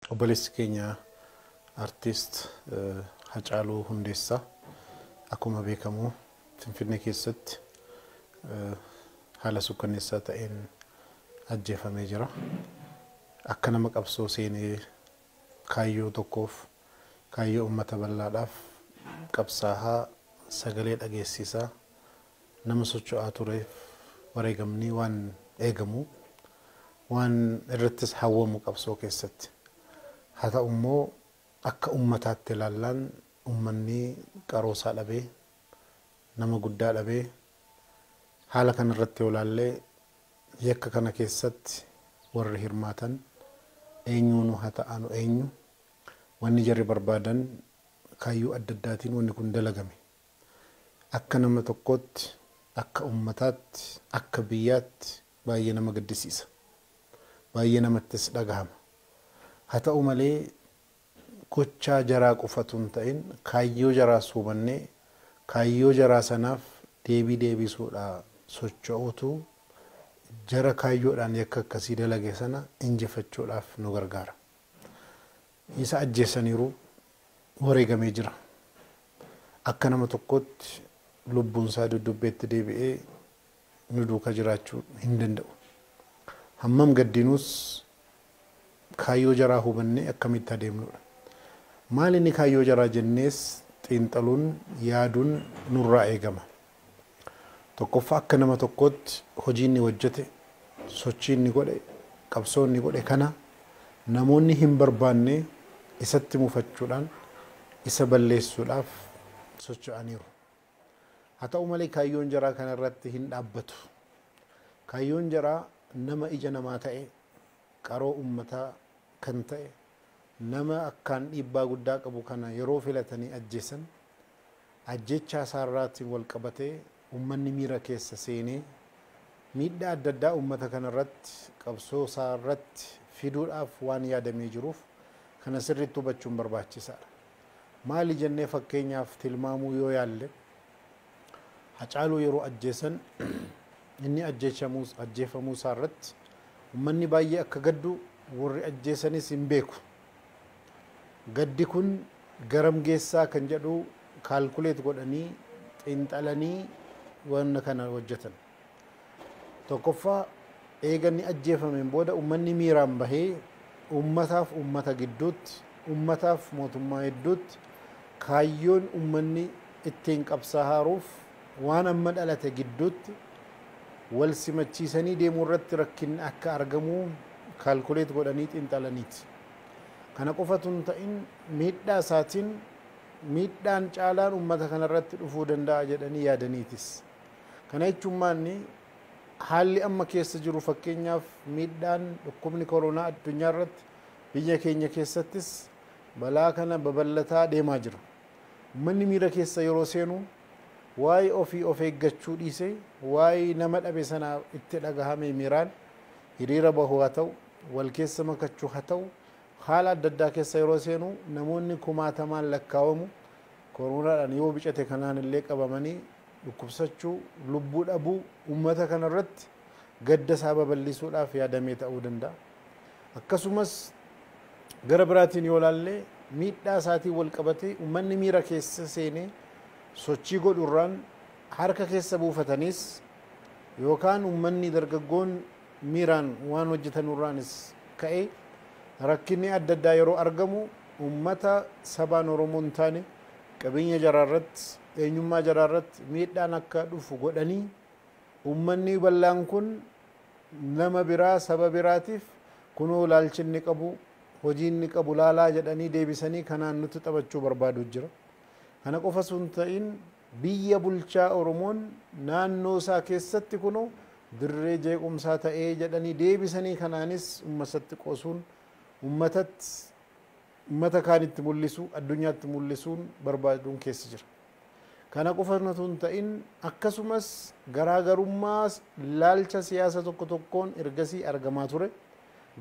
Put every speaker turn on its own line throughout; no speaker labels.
Obboleessi keenya Artist Hacaaluu Hundeessaa akkuma beekamu Finfinnee keessatti haala sukkanneessaa ta'een ajjeefamee jira. Akka nama qabsoo seenee kaayyoo tokkoof, kaayyoo uummata bal'aadhaaf qabsaahaa sagalee dhageessisaa Nama socho'aa tureef wareegamni waan eegamu, waan irrattis hawwamu qabsoo keessatti. Haa ta'u immoo akka ummataatti ilaallaan ummanni qaroo isaa dhabee, nama guddaa dhabee, haala kana irratti yoo ilaalle yakka kana keessatti warri hirmaatan eenyuunu haa ta'aanu eenyu, wanni jarri barbaadan kaayyoo adda addaatiin wanni kun dalagame. Akka nama tokkootti, akka ummataatti, akka biyyaatti baay'ee nama gaddisiisa. Baay'ee namattis dhagahama. Haa ta'u malee gochaa jaraa qofa utuu hin ta'in kaayyoo jaraas hubannee kaayyoo jaraa sanaaf deebii deebisuudhaa socho'uutu jara kaayyoodhaan yakka akkasii dalage sana injifachuudhaaf nu gargaara. Isa ajjeessaniiru, wareegamee jira. Akka nama tokkootti lubbuunsaa duddubbeetti deebi'ee nu duuka jiraachuu hin danda'u. Hammam gaddinuus kaayyoo jaraa hubannee akkamitti adeemnuudha. Maalinni kaayyoo jaraa jennees xiinxaluun, yaaduun nurraa eegama. Tokkoffaa akka nama tokkootti hojii inni hojjete, sochii inni godhe, qabsoo inni godhe kana namoonni hin barbaanne isatti mufachuudhaan isa balleessuudhaaf socho'aniiru. Haa ta'u malee kaayyoon jaraa kana irratti hin dhaabbatu. Kaayyoon jaraa nama ija namaa ta'e, qaroo uummataa kan ta'e, Nama akkaan dhiibbaa guddaa qabu kana yeroo filatanii ajjeesan ajjeechaa isaarraatiin walqabatee ummanni miira keessa seenee miidhaa adda addaa ummata kanarratti qabsoo isaarratti fiduudhaaf waan yaadamee jiruuf kana sirriitti hubachuun barbaachisaadha. Maali jennee fakkeenyaaf tilmaamuu yoo yaalle Hacaaluu yeroo ajjeesan inni ajjeefamuu isaa irratti ummanni baay'ee akka gaddu warri ajjeesanis hin beeku. Gaddi kun garam geessaa kan jedhu kaalkuleet godhanii xiinxalanii wanna kana hojjetan. Tokkoffaa, eega inni ajjeefameen booda ummanni miiraan bahee ummataaf ummata gidduutti, ummataaf mootummaa hidduutti kaayyoon ummanni ittiin qabsaahaaruuf waan amma dhalate gidduutti wal simachiisanii deemuu irratti rakkinni akka argamu calculate godhanii xiinxalaniiti. Kana qofa utuu hin ta'in miidhaa isaatiin miidhaan caalaan ummata kana irratti dhufuu danda'a jedhanii yaadaniitis. Kana jechuun maalni? Haalli amma keessa jiru fakkeenyaaf miidhaan dhukkubni koronaa addunyaa irratti biyya keenya keessattis balaa kana babal'ataa deemaa jira. Ummanni miira keessa yeroo seenu waa'ee ofii of eeggachuu dhiisee waa'ee nama dhabe sanaa itti dhagahamee miiraan hiriira bahu haa ta'u, wal keessa makachu ha ta'u haala adda addaa keessa yeroo seenu namoonni kumaatamaan lakkaawamu koronaadhaan yoo bicate kanaan illee qabamanii dhukkubsachuu, lubbuu dhabuu uummata kana irratti gadda isaa babal'isuudhaaf yaadamee ta'uu danda'a. Akkasumas gara biraatiin yoo ilaalle miidhaa isaatiin wal qabatee uummanni miira keessa seenee sochii godhu irraan harka keessa buufataniis yookaan uummanni dargaggoon miiraan waan hojjetanu irraanis ka'ee rakkinni adda addaa yeroo argamu uummata sabaan Oromoo hin taane qabeenya jaraa irratti, eenyummaa jaraa irratti miidhaan akka dhufu godhanii ummannii bal'aan kun nama biraa saba biraatiif kunoo ilaalchi inni qabu hojii inni qabu laalaa jedhanii deebisanii kanaan nutti taphachuu barbaadu jira. Kana qofa sun ta'in biyya bulchaa Oromoon naannoo isaa keessatti kunoo dirree jeequmsaa ta'ee jedhanii deebisanii kanaanis ummasatti qoosuun ummatatti ummata kaanitti mul'isu, addunyaatti mul'isuun barbaaduun keessa jira. Kana qofa utuu hin ta'in akkasumas garaagarummaa laalcha siyaasa tokko tokkoon ergasii argamaa ture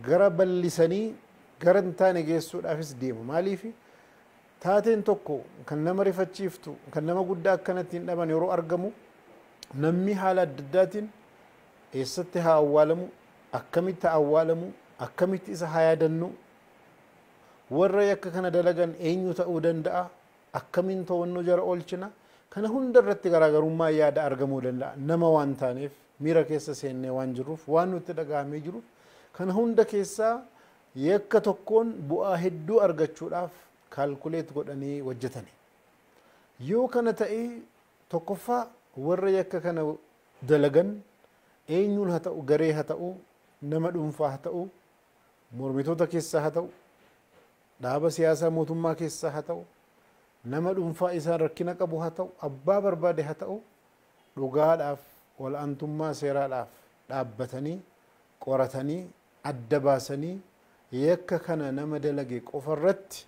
gara bal'isanii gara hin taane geessuudhaafis deemu. Maaliif taateen tokko kan nama rifachiiftu, kan nama guddaa akkanatti hin dhaban yeroo argamu namni haala adda addaatiin eessatti haa awwaalamu, akkamitti haa awwaalamu, akkamitti isa haa yaadannu Warra yakka kana dalagan eenyu ta'uu danda'a? Akkamiin to'annoo jara oolchina? Kana hunda irratti garaagarummaa yaada argamuu danda'a. Nama waan taaneef, miira keessa seennee waan jirruuf, waan nutti dhaga'amee jiruuf, kana hunda keessaa yakka tokkoon bu'aa hedduu argachuudhaaf calculate godhanii hojjetani. Yoo kana ta'e tokkoffaa warra yakka kana dalagan eenyuun haa ta'u, garee haa ta'u, nama dhuunfaa haa ta'u, Mormitoota keessaa haa ta'u, dhaaba siyaasaa mootummaa keessaa haa ta'u, nama dhuunfaa isaan rakkina qabu haa ta'u, abbaa barbaade haa ta'u dhugaadhaaf, ol'aantummaa seeraadhaaf dhaabbatanii, qoratanii, adda baasanii yakka kana nama dalage qofa irratti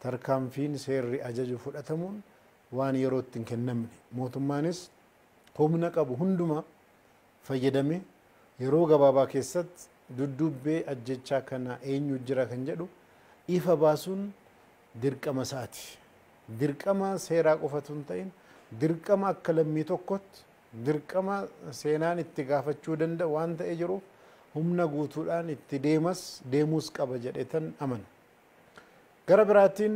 tarkaanfiin seerri ajaju fudhatamuun waan yerootti hin kennamne. Mootummaanis humna qabu hundumaa fayyadame yeroo gabaabaa keessatti dudduubbee ajjeechaa kana eenyu jira kan jedhu ifa baasuun dirqama isaati. Dirqama seeraa qofa utuu hin ta'in dirqama akka lammii tokkotti dirqama seenaan itti gaafachuu danda'u waan ta'ee jiruuf humna guutuudhaan itti deemas deemuus qaba jedheetan amana. Gara biraatiin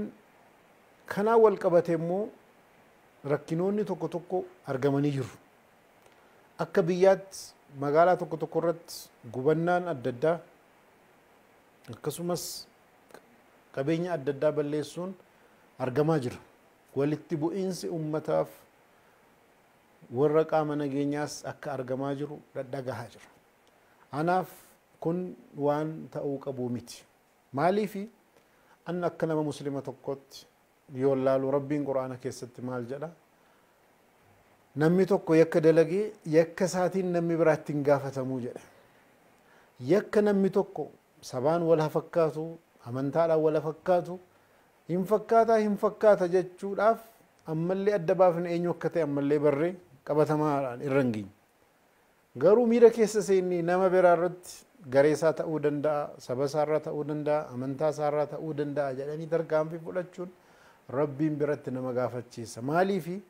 kanaan wal qabatee immoo rakkinoonni tokko tokko argamanii jiru. Akka biyyaatti magaalaa tokko tokko irratti gubannaan adda addaa akkasumas qabeenya adda addaa balleessuun argamaa jira. Walitti bu'iinsi uummataaf warra qaama nageenyaas akka argamaa jiru dhadhagahaa jira. Anaaf kun waan ta'uu qabu miti. Maaliifi an akka nama muslima tokkootti yoon laalu Rabbiin Qur'aana keessatti maal jedha? Namni tokko yakka dalage yakka isaatiin namni biraa ittiin gaafatamu jedhe. Yakka namni tokko sabaan wal hafakkaatu, amantaadhaan wal hafakkaatu, hin fakkaataa hin fakkaata jechuudhaaf ammallee adda baafne eenyu akka ta'e ammallee barree qabatamaadhaan irra hin geenye. Garuu miira keessa seennee nama biraa irratti garee isaa ta'uu danda'a, saba isaa irraa ta'uu danda'a, amantaa isaa irraa ta'uu danda'a jedhanii tarkaanfii fudhachuun Rabbiin biratti nama gaafachiisa. Maaliifi?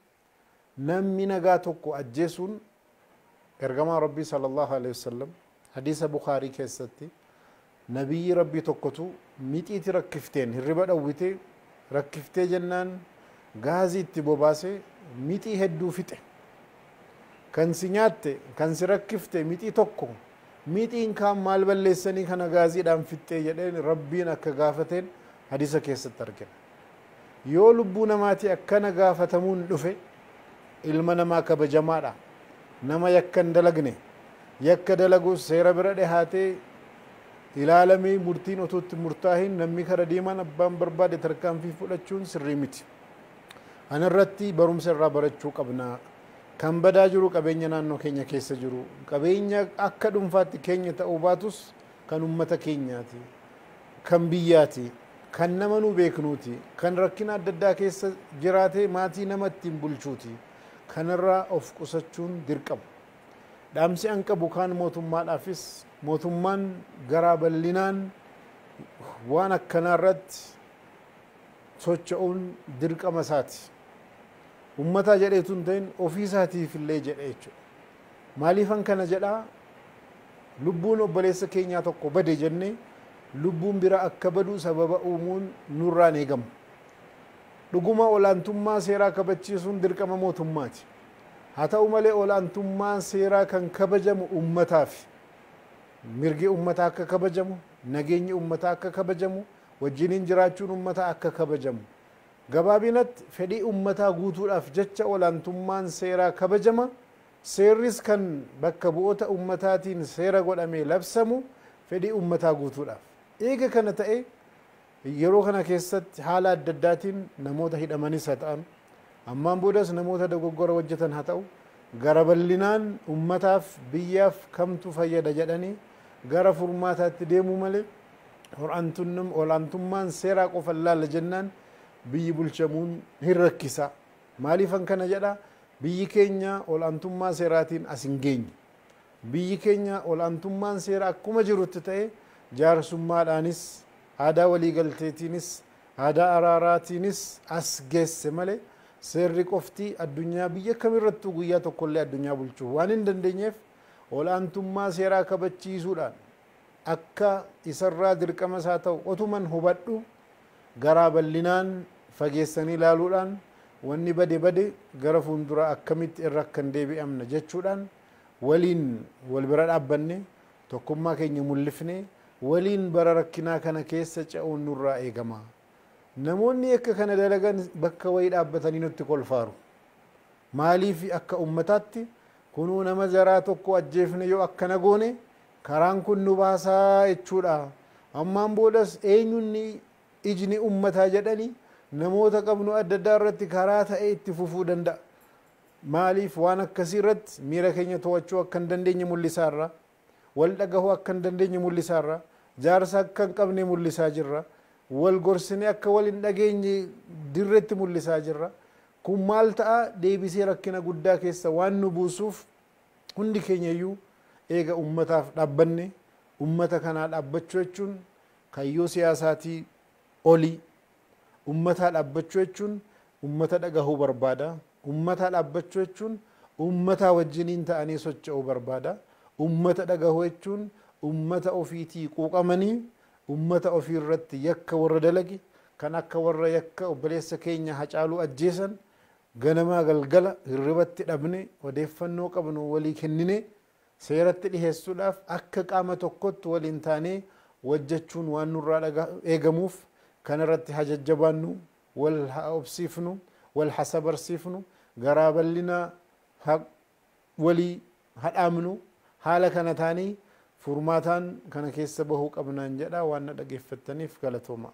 Namni nagaa tokko ajjeesuun Ergamaan Rabbii sallallahu aleyhi wa sallam hadiisa Bukhaarii keessatti Nabiyyii Rabbii tokkotu mixiiti rakkifteen hirriba dhawwite, rakkiftee jennaan gaazii itti bobaase mixii hedduu fixe. Kan si nyaatte, kan si rakkifte mixii tokko, mixiin kaan maal balleessanii kana gaaziidhaan fixxee jedheen Rabbiin akka gaafateen hadiisa keessatti argina. Yoo lubbuu namaatii akkana gaafatamuun dhufe ilma namaa kabajamaadha. Nama yakka hin dalagne, yakka dalagus seera bira dhihaatee ilaalamee murtiin otuu itti hin murtaahin namni kara deemaan abbaan barbaade tarkaanfii fudhachuun sirrii miti. Kana irratti barumsa irraa barachuu qabna. Kan badaa jiru qabeenya naannoo keenya keessa jiru. Qabeenya akka dhunfaatti keenya ta'uu baatus kan ummata keenyaati, kan biyyaati, kan nama nu beeknuuti, kan rakkina adda addaa keessa jiraatee maatii nama ittiin bulchuuti. Kanarraa of qusachuun dirqama. Dhaamsi an qabu kaan mootummaadhaafis, mootummaan garaa bal'inaan waan akkanaarratti socho'uun dirqama isaati. Ummataa jedhee utuu hin ta'in ofiisaatiifillee jedhee jechuudha. Maaliifan kana jedha? Lubbuun obboleessa keenyaa tokko bade jennee lubbuun bira akka badu sababa uumuun nurraa hin eegamu. Dhuguma olaantummaa seeraa kabachiisuun dirqama mootummaati. Haa ta'u malee olaantummaan seeraa kan kabajamu ummataafi. Mirgi ummataa akka kabajamu, nageenyi ummataa akka kabajamu, wajjiniin jiraachuun ummataa akka kabajamu Gabaabinatti, fedhii ummataa guutuudhaaf jecha olaantummaan seeraa kabajama, seerris kan bakka bu'ota ummataatiin seera godhamee labsamu fedhii ummataa guutuudhaaf. Eega kana ta'e yeroo kana keessatti haala adda addaatiin namoota hidhamanis ha ta'an, ammaan boodas namoota dogoggora hojjatan ha ta'u, gara ballinaan ummataaf, biyyaaf kamtu fayyada jedhanii gara furmaataatti deemuu malee, Ol'aantummaan seeraa qofan laalla jennaan biyyi bulchamuun hin rakkisa. Maaliifan kana jedha? Biyyi keenya ol'aantummaa seeraatiin as hin geenye. Biyyi keenya ol'aantummaan seeraa akkuma jirutti ta'ee jaarsummaadhaanis, aadaa waliigalteetiinis, aadaa araaraatiinis as geesse malee seerri qofti addunyaa biyya kamirrattuu guyyaa tokkollee addunyaa bulchuu waan hin dandeenyeef ol'aantummaa seeraa kabachiisuudhaan akka isarraa dirqama isaa ta'u otuman hubadhu garaa bal'inaan fageessanii ilaaluudhaan wanni bade bade gara fuulduraa akkamitti irra akka hin deebi'amna jechuudhaan waliin wal bira dhaabbanne tokkummaa keenya mullifne waliin bara rakkinaa kana keessa ce'uun nurraa eegama. Namoonni yakka kana dalagan bakka wayii dhaabbatanii nutti kolfaaru. Maaliif akka ummataatti kunuu nama jaraa tokko ajjeefne yoo akkana goone Karaan kun nu baasa jechuudha. Ammaan boodas eenyuun ijni ummataa jedhani namoota qabnu adda addaa irratti karaa ta'e itti fufuu danda'a. Maaliif waan akkasii irratti miira keenya to'achuu akka hin dandeenye mul'isaa irra. Wal dhagahuu akka hin dandeenye mul'isaa irra. Jaarsa akka hin qabne mul'isaa jirra. Wal gorsine akka wal hin dhageenye dirretti mul'isaa jirra. Kun maal ta'a deebisee rakkina guddaa keessa waan nu buusuuf, Hundi keenya iyyuu eega ummataaf dhaabbanne, ummata kanaa dhaabbachuu jechuun kayyoo siyaasaatii oli. Ummataa dhaabbachuu jechuun ummata dhagahuu barbaada. Ummataa dhaabbachuu jechuun ummataa wajjiniin ta'anii socha'uu barbaada. Ummata dhagahuu jechuun ummata ofiitii quuqamanii ummata ofii irratti yakka warra dalage, kan akka warra yakka obboleessa keenya Hacaaluu ajjeesan, Ganamaa galgala hirribatti dhabne odeeffannoo qabnu walii kenninee seeratti dhiheessuudhaaf akka qaama tokkotti waliin taanee wajjachuun waan nurraa eegamuuf kanarratti haa jajjabaannu, wal haa obsiifnu, wal ha sabarsiifnu, garaa bal'inaa ha walii ha dhaamnu, haala kana taanee furmaataan kana keessa bahuu qabnaan jedha waan na dhageeffattaniif galatoomaa.